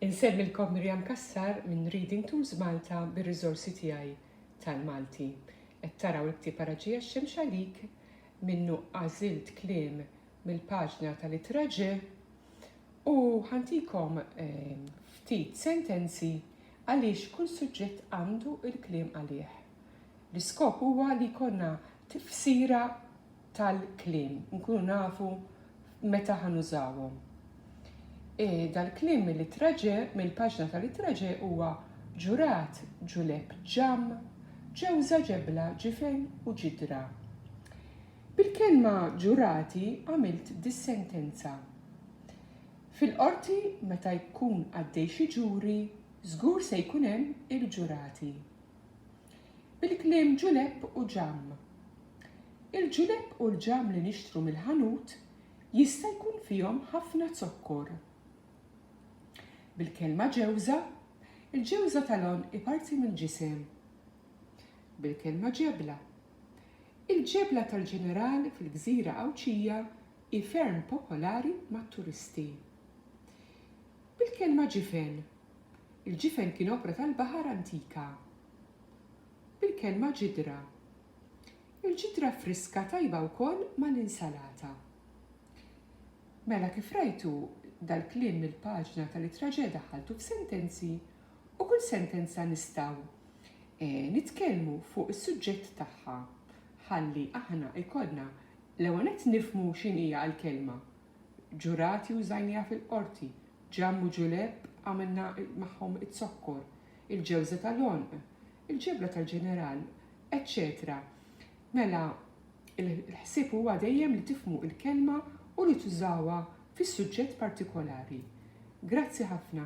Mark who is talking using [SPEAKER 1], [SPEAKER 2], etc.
[SPEAKER 1] Insellmilkom Miriam Cassar minn Reading Tools Malta bir-riżorsi tiegħi tal-Malti. Qed taraw il-ktieb Ara Ġie x-Xemx Għalik, minnu għażilt kliem mill-paġna tal-ittra Ġ u ħantikom ehm, ftit sentenzi għaliex kull suġġett għandu l-kliem għalih. L-iskop huwa li jkollna tifsira tal-kliem, nkunu nafu meta ħa nużawhom. E, dal-kliem mill-ittra ġe, mill-paġna tal-ittra ġe huwa ġurat, ġuleb, ġamm, ġewża, ġebla, ġifen u ġidra. Bil-kelma ġurati għamilt dis-sentenza. Fil-qorti meta jkun għaddej xi ġuri, żgur se jkun hemm il-ġurati. Bil-kliem ġulepp u ġamm. Il-ġulepp u l-ġamm li nixtru mill-ħanut jista' jkun fihom ħafna zokkor. Bil-kelma ġewża, il-ġewża tal-għonq hi parti mill-ġisem. Bil-kelma ġebla. Il-ġebla tal-Ġeneral fil-gżira Għawdxija hi ferm popolari mat-turisti. Bil-kelma ġifen. Il-ġifen kien opra tal-baħar antika. Bil-kelma ġidra. Il-ġidra friska tajba wkoll mal-insalata. Mela kif rajtu, dal-kliem mill-paġna tal-itraġe daħħaltu f'sentenzi u kull sentenza nistgħu nitkellmu fuq is-suġġett tagħha ħalli aħna jkollna l-ewwel nett nifhmu x'inhija l-kelma. Ġurati użajniha fil-qorti, Ġamm u Ġulepp għamilna magħhom iz-zokkor, il-ġewża tal-għonq, il-ġebla tal-ġeneral, eċċetera Mela, l-ħsieb huwa dejjem li tifhmu l-kelma u li tużawha fis-suġġett partikolari. Grazzi ħafna.